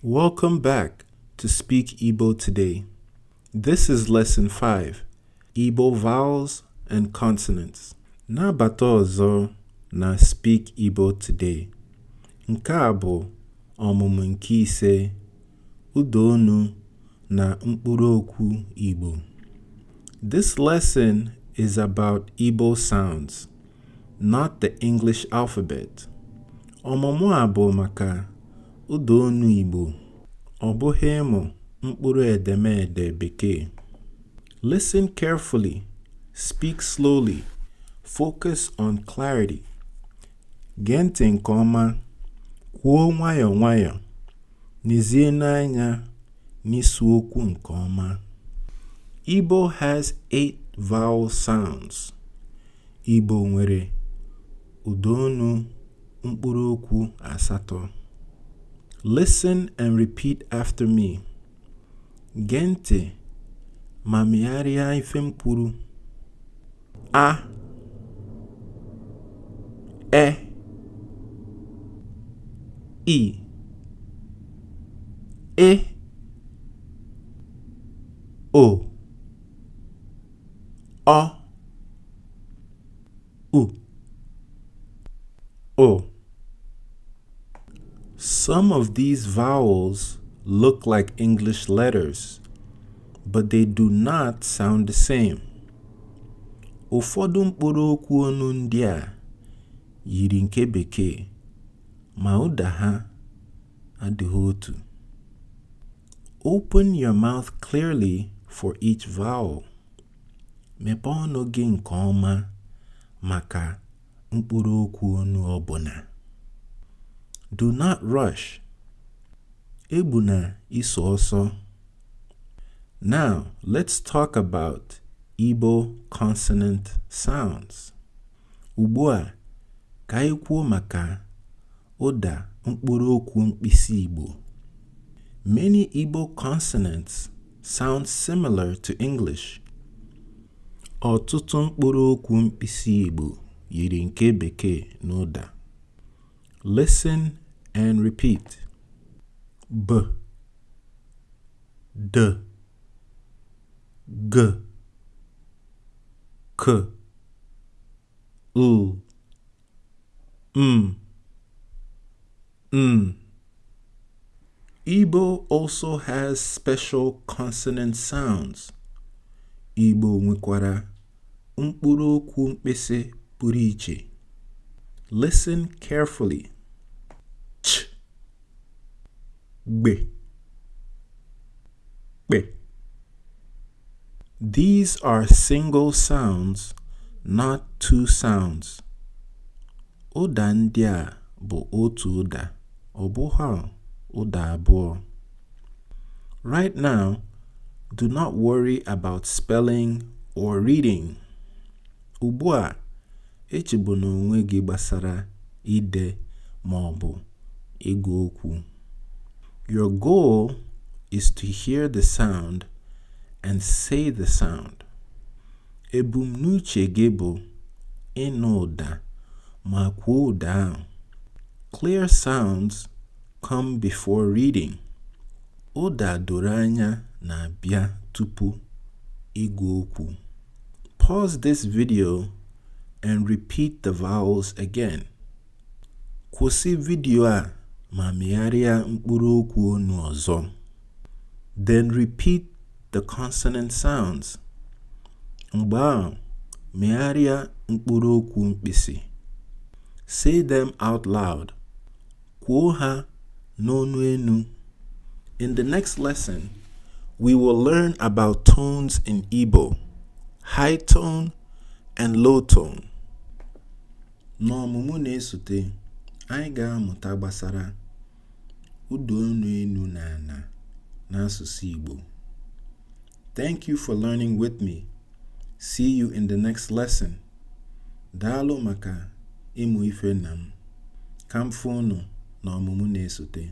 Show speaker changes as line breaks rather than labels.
Welcome back to Speak Igbo Today. This is Lesson 5, Igbo Vowels and Consonants. Nabata ọzọ na Speak Igbo Today. Nke a bụ ọmụmụ nke ise ụda onu na mkpụrụ okwu Igbo. This lesson is about Igbo sounds. not the English alphabet. Ọmụmụ a bụ maka ụda onu Igbo, ọ bụghị ịmụ mkpụrụ edemede Bekee. Listen carefully, speak slowly, focus on clarity. Gee ntị nke ọma, kwuo nwayọọ nwayọọ, nezie n'anya n'isi okwu nke ọma. Igbo has eight vowel sounds. Igbo nwere ụda onu mkpụrụokwu asatọ. Listen and repeat after me. Gee ntị ma megharịa ife m kwuru. A E I Ị O ọ u ụ Some of these vowels look like English letters, but they do not sound the same. Ụfọdụ mkpụrụ okwu ọnụ ndị a yiri nke Bekee, ma ụda ha adịghị otu. Open your mouth clearly for each vowel. Mepee ọnụ gị nke ọma maka mkpụrụ okwu ọnụ ọbụna. Do not rush. Egbuna iso ọsọ. Now, let's talk about Igbo consonant sounds. Ugbu a, ka anyị kwuo maka ụda mkpụrụ okwu mkpịsị Igbo. Many Igbo consonants sound similar to English. Ọtụtụ mkpụrụ okwu mkpịsị Igbo yiri nke Bekee n'ụda. Listen and repeat. B. D. g k l m n Igbo also has special consonant sounds. Igbo nwekwara mkpụrụ okwu mkpịsị pụrụ iche. Listen carefully. gbe kpe These are single sounds, not two sounds. Ụda ndị a bụ otu ụda, ọ bụghị ụda abụọ. Right now, do not worry about spelling or reading. Ugbu a, echegbuna onwe gị gbasara ide ma ọ bụ ịgụ okwu. Your goal is to hear the sound and say the sound. Ebumnuche gị bụ ịnụ ụda ma kwuo ụda ahụ. Clear sounds come before reading. Ụda doro anya na-abịa tupu ịgụ okwu. Pause this video and repeat the vowels again. Kwụsị vidio a ma megharịa mkpụrụ okwu ọnụ ọzọ. Then repeat the consonant sounds. Mgbe ahụ, megharịa mkpụrụ okwu mkpịsị. Say them out loud. Kwuo ha n'onu enu. In the next lesson, we will learn about tones in Igbo, high tone and low tone. N'ọmụmụ na-esote, anyị ga-amụta gbasara ụda onu enu na ana n'asụsụ Igbo. Thank you for learning with me. See you in the next lesson. Daalụ maka ịmụ ife na m. Ka m fụ unu n'ọmụmụ na-esote.